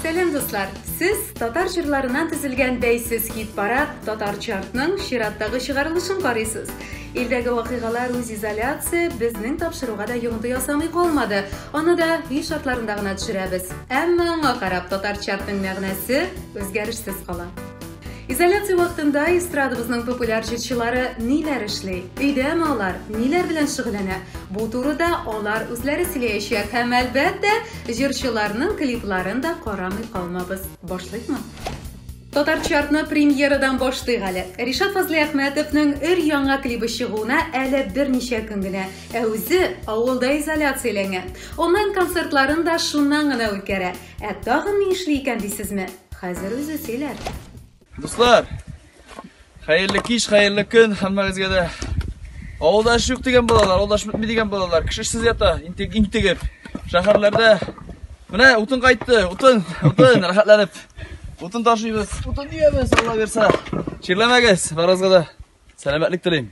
Сәлем дуслар! Сез татар җырларына төзелгән бәйсез хит парад татар чартның чираттагы чыгарылышын карыйсыз. Илдәге вакыйгалар үз изоляция безнең тапшыруга да йогынты ясамый калмады. Аны да һи шартларында гына төшерәбез. Әмма аңа карап татар чартның мәгънәсе үзгәрешсез кала. Изоляция вакытында эстрадабызның популяр җырчылары ниләр эшли? Өйдәме алар? Ниләр белән шөгыльләнә? Бу турыда алар үзләре сөйләячәк һәм әлбәттә, җырчыларның клипларын да карамый калмабыз. Башлыйкмы? Татар чартны премьерадан башлыйк әле. Ришат Фазлиәхмәтовның өр яңа клибы чыгуына әле берничә көн генә, ә үзе авылда изоляцияләнгән. Онлайн концертларын да шуннан гына үткәрә. Ә тагын ни эшли икән дисезме? Хәзер үзе сөйләр. Дуслар, хәерле кич, хәерле көн һәммәгезгә дә. Авылда эш юк дигән балалар, авылда эш бетми дигән балалар, кешесез ята, интек, интегеп. Шәһәрләрдә менә утын кайтты, утын, утын, рәхәтләнеп. Утын ташыйбыз, утын дигәбез, Алла бирсә. Чирләмәгез, барыгызга да сәламәтлек телим.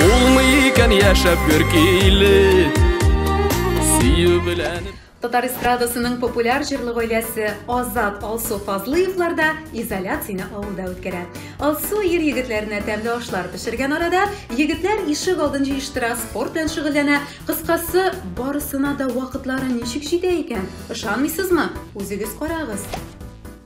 Булмый яшәп бер киле Сөю белән Татар эстрадасының популяр җырлы гаиләсе Азат Алсу Фазлыевлар да изоляцияне авылда үткәрә. Алсу ир егетләренә тәмле ашлар пешергән арада, егетләр ишек алдын җыештыра, спорт белән шөгыльләнә. Кыскасы, барысына да вакытлары ничек җитә икән? Ышанмыйсызмы? Үзегез карагыз.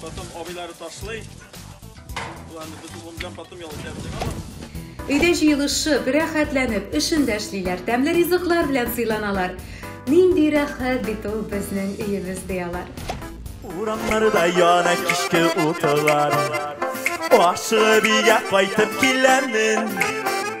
Потом абыйлары ташлый. Планы бөтен булган потом ял итәбез. Өйдә җыелышып, рәхәтләнеп, эшендә эшлиләр, тәмле ризыклар белән сыйланалар. Нинди рәхәт бит ул безнең өебез ди алар. Урамнарда яна кичке утылар. Ашыгып өйгә кайтып киләмен.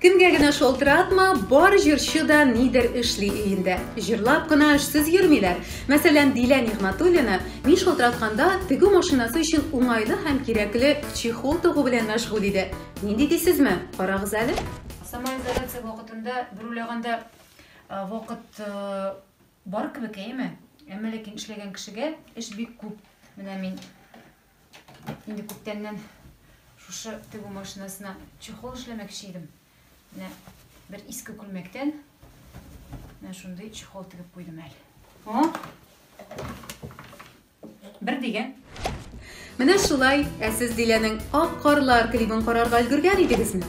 Кемгә генә шалтыратма, бар җырчы да нидер эшли өендә. Җырлап кына эшсез йөрмиләр. Мәсәлән, Дилә Нигъмәтуллина мин шалтыратканда, тегү машинасы өчен уңайлы һәм кирәкле чехол тыгу белән мәшгуль иде. Нинди дисезме? Карагыз әле. Самоизоляция вакытында бер уйлаганда вакыт бар кебек, әйеме? Әмма ләкин эшләгән кешегә эш бик күп. Менә мин Инде күптәннән шушы тегү машинасына чехол эшләмәкче идем. Менә бер иске күлмәктән менә шундый чехол тегеп куйдым әле. О! Бер дигән. Менә шулай, ә сез Диләнең Ак карлар клибын карарга өлгергән идегезме?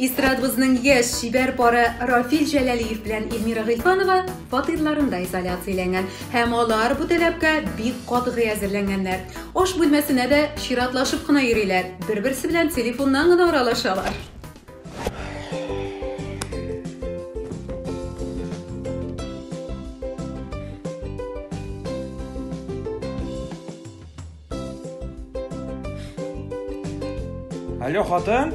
Эстрадабызның яшь, чибәр пары Рафил Җәләлиев белән Эльмира Гыйльфанова фатирларында изоляцияләнгән һәм алар бу таләпкә бик катгый әзерләнгәннәр. Аш бүлмәсенә дә чиратлашып кына йөриләр, бер-берсе белән телефоннан гына аралашалар. Алло, хатын?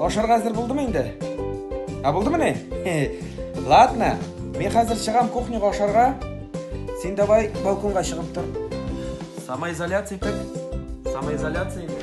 Ашарга әзер булдымы инде? Ә булдымы не? Ладно, мин хәзер чыгам кухняга ашарга. Син давай балконга чыгып тор. Самоизоляция итеп. Самоизоляция итеп.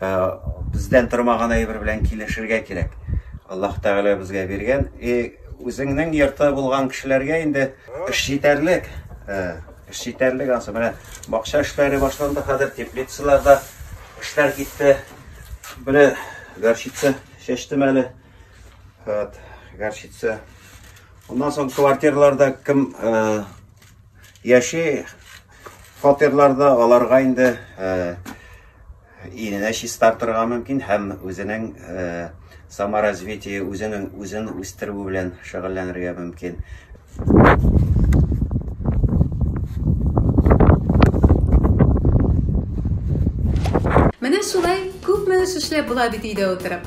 Э, бездән тормаган әйбер белән килешергә кирәк. Аллаһ Тәгалә безгә биргән. И э, үзеңнең йорты булган кешеләргә инде эш җитәрлек. Э, эш җитәрлек ансы. Менә бакча эшләре башланды хәзер, теплицаларда эшләр китте. Менә горчица чәчтем әле. Вот, горчица. Уннан соң квартирларда кем яши, Фатирларда аларга инде иленә чистартырга мөмкин һәм үзенең э, саморазвитие үзенең үзен үстерү белән шөгыльләнергә мөмкин. Менә шулай күпме эш эшләп була бит өйдә утырып.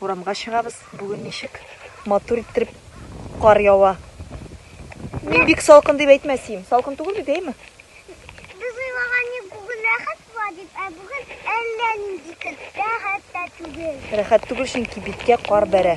Урамга чыгабыз. Бүген ничек матур иттереп кар ява. Мин бик салкын дип әйтмәсим. Салкын түгел бит, әйме? Без уйлаган идек, бүген рәхәт була дип, ә бүген әллә нинди көн. Рәхәт тә түгел. Рәхәт түгел, чөнки биткә кар бәрә.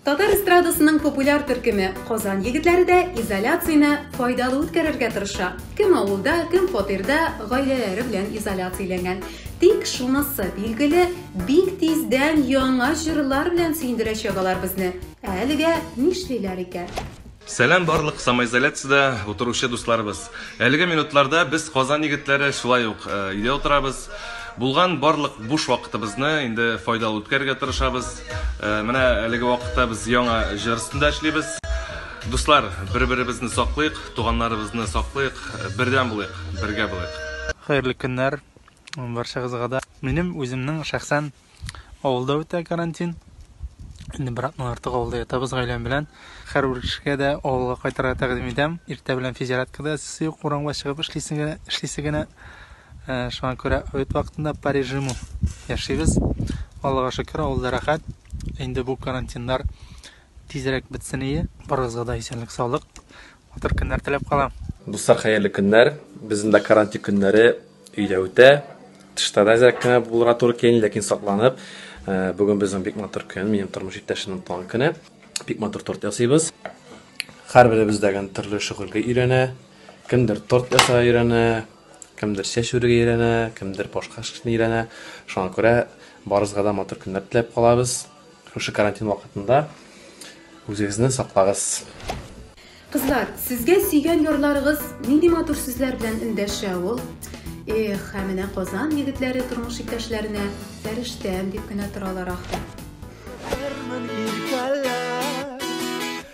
Татар эстрадасының популяр төркеме Казан егетләре дә изоляцияне файдалы үткәрергә тырыша. Кем авылда, кем фатирда гаиләләре белән изоляцияләнгән. Тик шунысы билгеле, бик тиздән яңа җырлар белән сөендерәчәк алар безне. Ә әлегә нишлиләр икән? Сәлам барлык самоизоляциядә утыручы дусларыбыз! Әлеге минутларда без Казан егетләре шулай ук өйдә утырабыз. Булган барлык буш вакытыбызны инде файдалы үткәрергә тырышабыз. Менә әлеге вакытта без яңа җыр өстендә эшлибез. Дуслар, бер-беребезне саклыйк, туганнарыбызны саклыйк, бердәм булыйк, бергә булыйк! Хәерле көннәр барчагызгада! Минем үземнең шәхсән Авылда үтә карантин. Инде бер атна артык авылда ятабыз гаиләм белән. Хәр бер кешегә дә авылга кайтырга тәкъдим итәм. Иртә белән физзарядкада эссе юк, урамга чыгып эшлисең генә, эшлисе генә. Э, шуңа күрә обед вакытында по режиму яшибез. Аллага шөкер, авылда рәхәт. Инде бу карантиннар тизрәк бетсен ие. Барыгызга да исәнлек, саулык. Матур көннәр теләп калам. Дуслар, хәерле көннәр. Безнең дә карантин көннәре өйдә үтә. Тышта да әзрәк кенә булырга туры килә, ләкин сакланып. Э, бүген безнең бик матур көн, минем тормыш иптәшемнең туган көне. Бик матур торт ясыйбыз. Һәрберебез дә гән төрле шөгыльгә өйрәнә. Кемдер торт ясарга өйрәнә, кемдер чәч үрергә өйрәнә, кемдер башка эшне өйрәнә. Шуңа күрә барысына да матур көннәр теләп калабыз. Шушы карантин вакытында үзегезне саклагыз. Кызлар, сезгә сөйгән ярларыгыз нинди матур сүзләр белән эндәшә ул? Эх, ә менә Казан егетләре тормыш иптәшләренә фәрештәм дип кенә торалар ахры.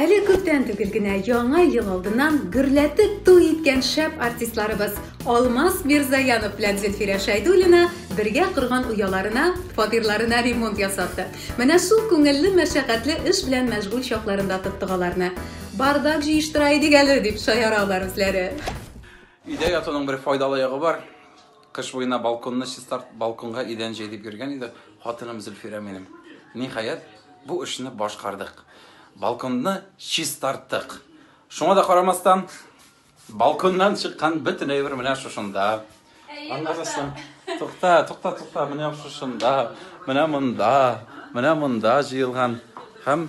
Әле күптән түгел генә Яңа ел алдыннан гөрләтеп туй иткән шәп артистларыбыз Алмаз Мирзаянов белән Зөлфирә Шәйдуллина бергә корган ояларына, фатирларына ремонт ясатты. Менә шул күңелле, мәшәкатьле эш белән мәшгуль чакларында тоттык аларны. Бардак җыештыра идек әле, дип шаяра алар үзләре. Өйдә ятуның бер файдалы ягы бар. Кыш буена балконны чистарт, балконга идән җәй дип йөргән иде хатыным Зөлфирә минем. Ниһаять, бу эшне башкардык. Балконны чистарттык. Шуңа да карамастан, балконнан чыккан бөтен әйбер менә шушында. Аннары соң, тукта, тукта, тукта, менә шушында, менә монда, менә монда җыелган. Һәм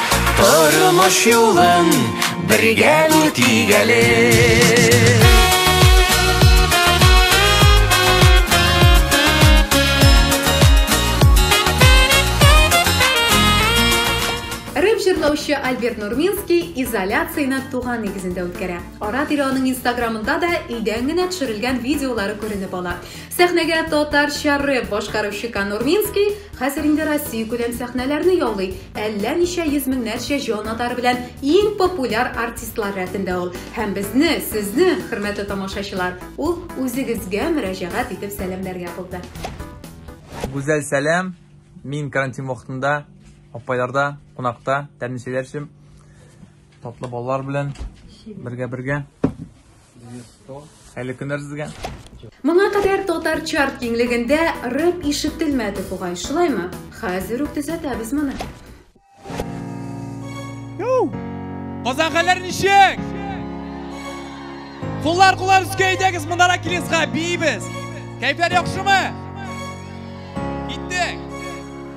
Тормыш юлын бергә үтик әле. җырлаучы Альберт Нурминский изоляцияне туган нигезендә үткәрә. Ара-тирә аның инстаграмында да өйдән генә төшерелгән видеолары күренеп ала. Сәхнәгә татарча рэп башкаручы Нурминский хәзер инде Россия күләм сәхнәләрне яулый. Әллә ничә йөз меңнәрчә җан атар белән иң популяр артистлар рәтендә ул. Һәм безне, сезне, хөрмәтле тамашачылар, ул үзегезгә мөрәҗәгать итеп сәламләргә булды. Гүзәл сәлам! Мин карантин вакытында апайларда кунакта, тәмле чәйләр эчеп, татлы балалар белән бергә-бергә. Әле кемнәр сезгә? Моңа кадәр татар чарт киңлегендә рэп ишетелмәде бугай, шулаймы? Хәзер үк төзәтәбез моны. Казанхәләр ничек? Куллар куллар өскә әйдәгез монара килесга бибез. Кәйфләр яхшымы?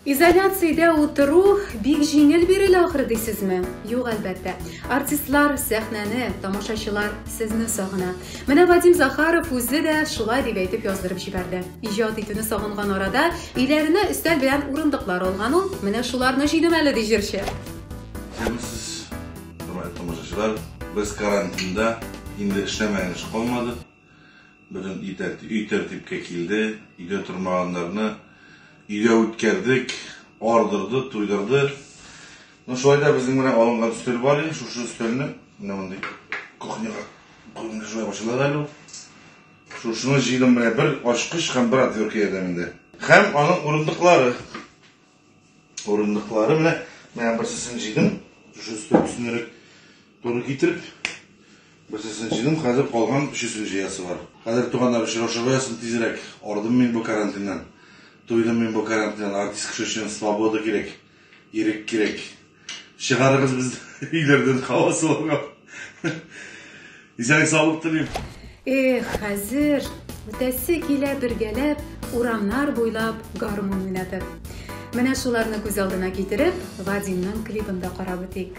Изоляциядә утыру бик җиңел бирелә ахры дисезме? Юк, әлбәттә. Артистлар, сәхнәне, тамашачылар сезне сагына. Менә Вадим Захаров үзе дә шулай дип әйтеп яздырып җибәрде. Иҗат итүне сагынган арада, өйләренә өстәл белән урындыклар алган ул. Менә шуларны җыйдым әле, ди җырчы. Исәнмесез, хөрмәтле тамашачылар. Без карантинда, инде эшләмәгән эш калмады. Бүген өй тәртипкә килде, өйдә тормаганнарны өйгә үткәрдек, ардырды, туйдырды. Ну, шулай да безнең менә алынган өстәл бар иде, шушы өстәлне, менә мондый кухняга куйганда шулай ачылыр әле ул. Шушыны җыйдым менә бер ачкыч һәм бер отвертка ярдәмендә. Һәм аның урындыклары. Урындыклары менә, менә берсесен җыйдым, шушы өстәл өстенрәк Туры китереп, берсесен җыйдым, хәзер калган өчесен җыясы бар. Хәзер туганнар очрашуы ясыйм тизрәк. Ардым мин бу карантиннан. Туйдым мин бу карантиннан. Артист кеше өчен свобода кирәк. Ирек кирәк. Чыгарыгыз безне өйләрдән һава суыгы. Исәнлек саулык телим. Эх, хәзер үтәсе килә бергәләп, урамнар буйлап гармун уйнатып. Менә шуларны күз алдына китереп, Вадимның клибын да карап үтик.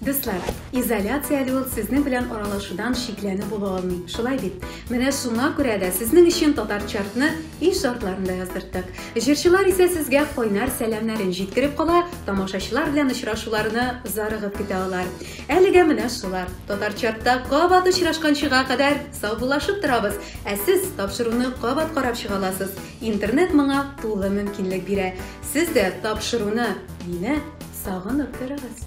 Дуслар, изоляция әле ул сезнең белән аралашудан шикләнү була алмый. Шулай бит. Менә шуңа күрә дә сезнең өчен татар чартны ил шартларында яздырттык. Җырчылар исә сезгә кайнар сәламнәрен җиткереп кала, тамашачылар белән очрашуларны зарыгып көтә алар. Әлегә менә шулар. Татар чартта кабат очрашканчыга кадәр Саубуллашып торабыз! Ә сез тапшыруны кабат карап чыга аласыз. Интернет моңа тулы мөмкинлек бирә. Сез дә тапшыруны, мине сагынып торыгыз.